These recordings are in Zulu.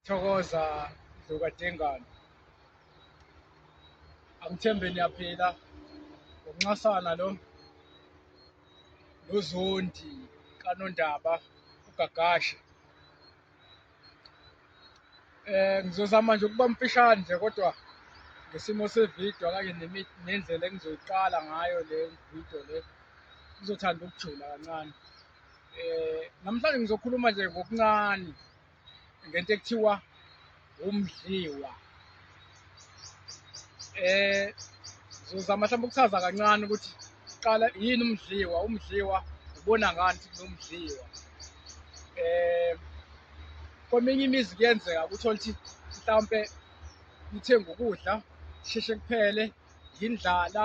Thokoza Dluka Dengane. Angithembe niyaphila. Ngokunxasana lo nozondi kanondaba ugagashe. Eh ngizozama nje ukuba mfishane nje kodwa ngesimo sevideo kanye nendlela engizoyiqala ngayo le video le ngizothanda ukujula kancane. Eh namhlanje ngizokhuluma nje ngokuncane ngento ekuthiwa umdliwa eh zozama mhlawumbe ukuchaza kancane ukuthi qala yini umdliwa umdliwa ubona ngani ukuthi nomdliwa eh kweminye imizi kuyenzeka ukuthi mhlawumbe nithenge ukudla sheshe kuphele yindlala,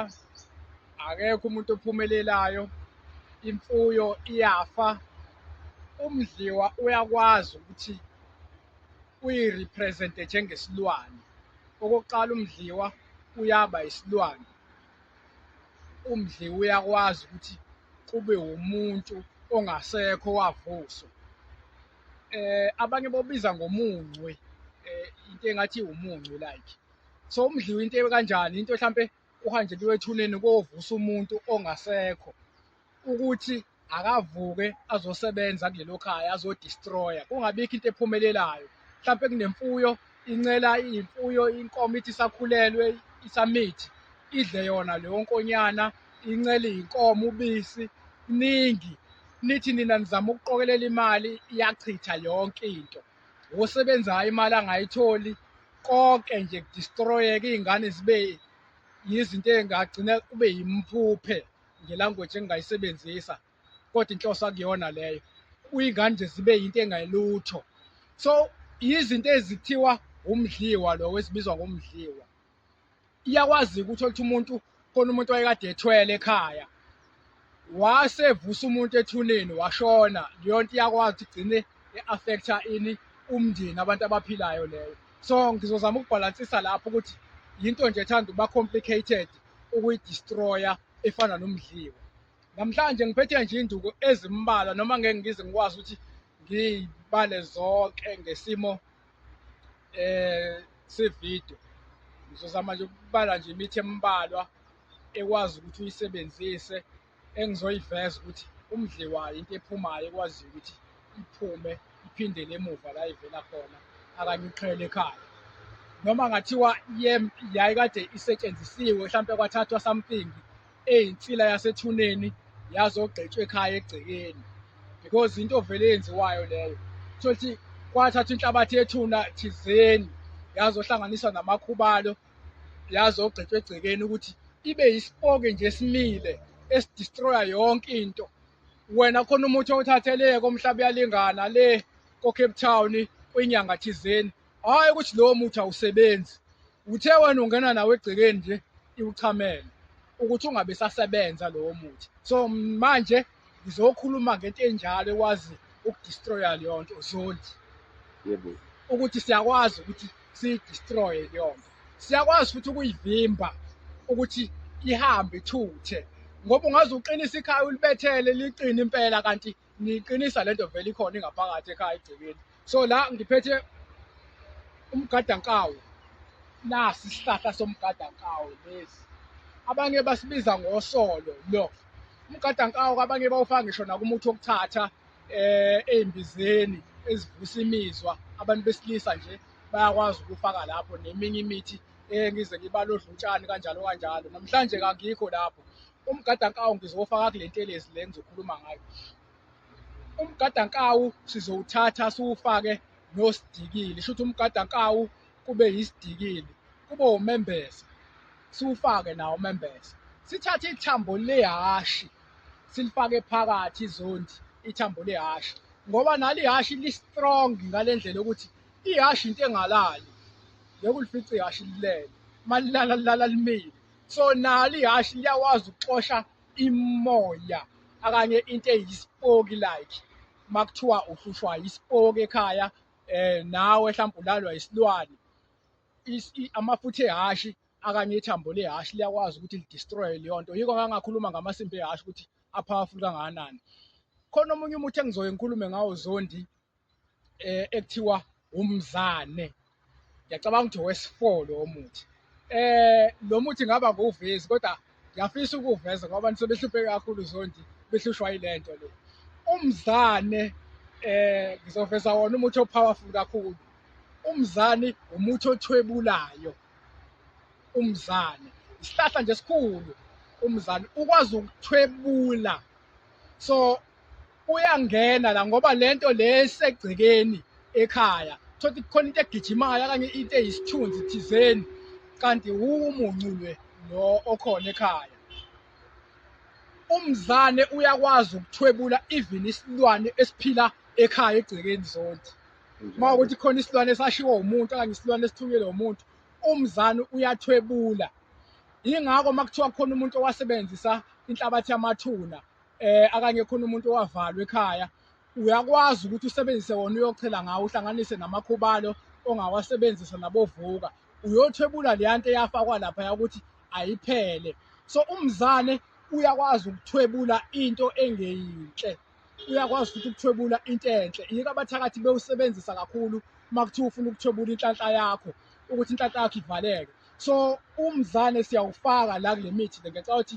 akekho umuntu ophumelelayo, imfuyo iyafa. Umdliwa uyakwazi ukuthi uyirepresente njengesilwane. Okokuqala umdliwa uyaba isilwane. Umdliwa uyakwazi ukuthi kube wumuntu ongasekho wavuswa. Eh abanye bobiza ngomuncwe eh into engathi umuncwe like so umdliwa into ekanjani into mhlampe uhanjeliwe ethuneni kovusa umuntu ongasekho ukuthi akavuke azosebenza kulelo khaya azodestroya kungabikho into ephumelelayo mhlampe kunemfuyo incela imfuyo inkomo ithi isakhulelwe isamithi idle yona leyo nkonyana incele inkomo ubisi kuningi nithi nina nizama ukuqokelela imali iyachitha yonke into wosebenzayo imali angayitholi konke nje kudistroyeke iy'ngane zibe yizinto ey'ngagcina kube yimphuphe ngelanguage engingayisebenzisa kodwa inhloso akuyona leyo uyingane nje zibe yinto engelutho so yizinto ezithiwa umdliwa lo esibizwa ngomdliwa iyakwazi ukuthi oluthe umuntu khona umuntu wayekade ethwele ekhaya wase evusa umuntu ethuneni washona leyo nto iyakwazi ukuthi igcine e-affecta ini umndeni abantu abaphilayo leyo so ngizozama ukubhalansisa lapho ukuthi yinto nje ethanda uba complicated ukuyidestroya efana nomdliwa namhlanje ngiphethe nje induku ezimbalwa noma ngeke ngize ngikwazi ukuthi ngiyibale zonke ngesimo eh sevideo ngizozama nje ukubala nje imithi embalwa ekwazi ukuthi uyisebenzise engizoyiveza ukuthi umdliwayo into ephumayo ekwaziyo ukuthi iphume iphindele emuva la ivela khona akanye uqhele ekhaya noma ngathiwa yayikade isetshenzisiwe mhlawumpe kwathathwa something eyinsila yasethuneni yazogqitshwa ekhaya egcekeni because into vele eyenziwayo leyo sothi kwathatha inhlabathi yethuna thizeni yazohlanganiswa namakhubalo yazogqitshwa egcekeni ukuthi ibe yisipoke nje simile esidestroya yonke into wena khona umuthi owuthatheleke omhlaba uyalingana le ko-cape town kwinyanga thizeni hhayi ukuthi lowo muthi awusebenzi uthe wena ungena nawo egcekeni nje iwuchamele ukuthi ungabe sasebenza lowo muthi so manje ngizokhuluma ngento enjalo ekwazi ukudestroya leyo nto zondi yebo ukuthi siyakwazi ukuthi siyidestroye leyo nto siyakwazi futhi ukuyivimba ukuthi ihambe ithuthe ngoba ungaze uqinise ikhaya ulibethele liqine impela kanti ngiqinisa lento vele ikhona ingaphakathi ekhaya egcekeni so la ngiphethe umgadankawu nasi isihlahla somgadankawu lesi abanye basibiza ngosolo lo umgadankawu abanye bawufaka ngisho nakumuthi wokuthatha eh ezimbizeni ezivusa imizwa abantu besilisa nje bayakwazi ukufaka lapho neminye imithi engize ngibalodlutshani kanjalo kanjalo namhlanje kangikho lapho umgadankawu ngizowufaka kule ntelezi le ngizokhuluma ngayo umgadankawu sizowuthatha siwufake nosidikili shuthi umgadankawu kube yisidikili kube umembese siwufake nawo umembese sithathe ithambo lehashi silifake phakathi izondi ithambo lehashi ngoba nalo ihashi li-strong ngale ndlela yokuthi ihashi into engalali ngeke ulifice ihashi lilele uma lilala lilala limile so nalo ihashi liyakwazi ukuxosha imoya akanye into eyisipoki like makuthiwa uhlushwa isipoki ekhaya eh nawe mhlawumbe ulalwa isilwane amafutha ehashi akanye ithambo lehashi liyakwazi ukuthi lidestroye leyo nto yiko ngangakhuluma ngamasimba ehashi ukuthi apowerful kangakanani khona omunye umuthi engizoye ngikhulume ngawo zondi eh ekuthiwa umzane ngiyacabanga ukuthi wesifolo omuthi eh lo muthi ngaba nguvezi kodwa ngiyafisa ukuveza ngoba nisebehlupheke kakhulu zondi behlushwa ilento le umzane eh ngizoveza wona umuthi opowerful kakhulu umzane umuthi othwebulayo umzane isihlahla nje esikhulu umzane ukwazi ukuthwebula so uyangena la ngoba lento le esegcekeni ekhaya thothi kukhona into egijimayo okanye into eyisithunzi thizeni kanti umuncu lwe lo okhona ekhaya umzane uyakwazi ukuthwebula even isilwane esiphila ekhaya egcekeni zonke uma ukuthi khona isilwane esashiwo umuntu okanye isilwane esithunyelwe umuntu umzane uyathwebula yingakho uma kuthiwa khona umuntu owasebenzisa inhlabathi yamathuna eh akanye khona umuntu owavalwa ekhaya uyakwazi ukuthi usebenzise wona uyochela ngawo uhlanganise namakhubalo ongawasebenzisa nabovuka uyothwebula leya nto eyafakwa lapha yakuthi ayiphele so umzane uyakwazi ukuthwebula into engeyinhle uyakwazi futhi ukuthwebula into enhle yiko abathakathi bewusebenzisa kakhulu uma kuthiwa ufuna ukuthwebula inhlanhla yakho ukuthi inhlanhla yakho ivaleke so umzane siyawufaka la kule mithi le ngicabanga ukuthi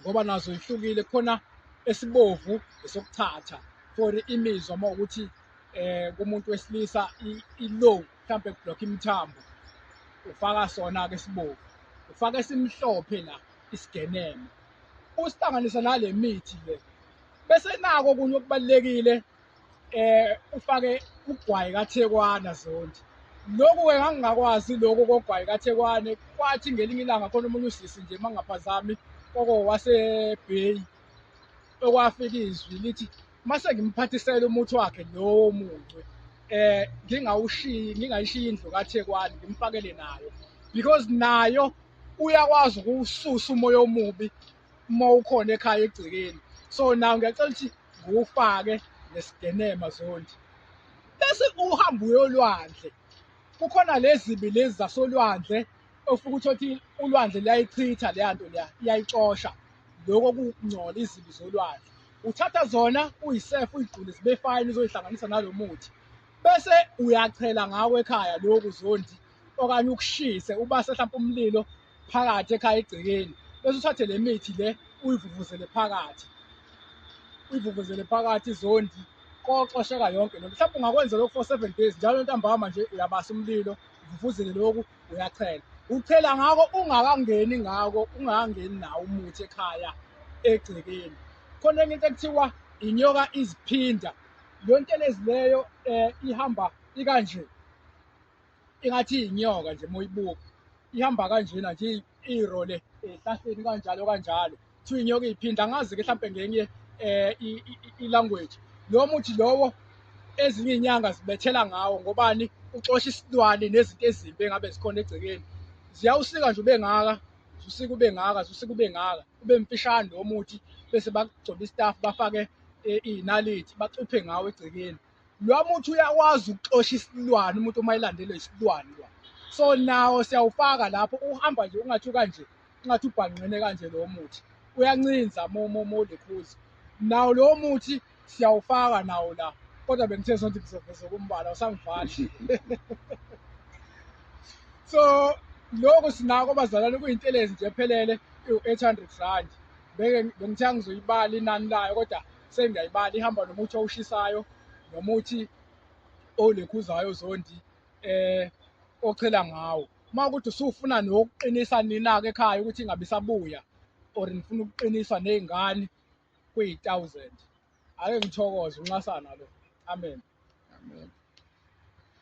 ngoba nazo ihlukile khona esibovu esokuthatha for imizwa uma ukuthi eh kumuntu wesilisa ilow mhlambe kublock imithambo ufaka sona ke sibovu ufaka esimhlophe la isigeneme usihlanganisa nale mithi le bese nako kunye okubalekile eh ufake ugwayi kaThekwana Zondi lokhu-ke ngangingakwazi lokhu kogwayi kaThekwane kwathi ngelinye ilanga khona omunye usisi nje uma ngingaphazami koko wasebheyi okwafika izwi lithi mase ngimphathisela umuthi wakhe lowo muncwe eh ngingawushiyi ngingayishiyi indlu kaThekwane ngimfakele nayo because nayo uyakwazi ukuwususa umoya omubi uma ukhona ekhaya egcekeni so nawe ngiyacela ukuthi ngiwufake nesigenema zondi bese uhamba uyolwandle kukhona lezibi lezi zasolwandle ofuka ukuthi othi ulwandle liyayichitha leya nto leya iyayixosha lokho kungcola izibi zolwandle uthatha zona uyisefu uyigqule zibe fayini uzoyihlanganisa nalo muthi bese uyachela ngawo ekhaya lokhu zondi okanye ukushise ubase mhlawumbe umlilo phakathi ekhaya egcekeni bese uthathe le mithi le uyivuvuzele phakathi uyivuvuzele phakathi izondi koxosheka yonke lento mhlawumbe ungakwenza lokhu for seven days njalo ntambama nje uyabasa umlilo uvuvuzele lokhu uyachela uchela ngako ungakangeni ngako ungakangeni nawo umuthi ekhaya egcekeni khona enye into ekuthiwa inyoka iziphinda le nto lezileyo um eh, ihamba ikanje ingathi inyoka nje moyibuka ihamba kanjena nje iro le ehlahleni kanjalo kanjalo kuthiwa inyoka iyiphinda angazi ke mhlampe ngenye eh i-language lo muthi lowo ezinye inyanga zibethela ngawo ngobani uxosha isilwane nezinto ezimbi engabe zikhona egcekeni ziyawusika nje ubengaka usika ube ngaka usika ube ngaka ube mfishane lo muthi bese bakugcoba istaff bafake eh, iy'nalithi bacuphe ngawo egcekeni Lo muthi uyakwazi ukuxosha isilwane umuntu uma elandelwe isilwane lo. So nawo siyawufaka lapho uhamba nje ungathi ukanje ungathi ubhanqene kanje lo muthi. Uyancinza mo mo mo lekhuzi. Nawo lo muthi siyawufaka nawo la. Kodwa bengithe sonke ngizoveza kumbala usangivali. So lokho sinako bazalwane kuyintelezi nje ephelele u-800 rand. Bengithe angizoyibala inani layo kodwa sengiyayibala ihamba nomuthi owushisayo nomuthi olekhuzayo zondi eh ochela ngawo uma ukuthi usufuna nokuqinisa nina-ke ekhaya ukuthi ingabe isabuya or nifuna ukuqiniswa ney'ngane kuyi-thousand ake ngithokoze unxasana lo amen amen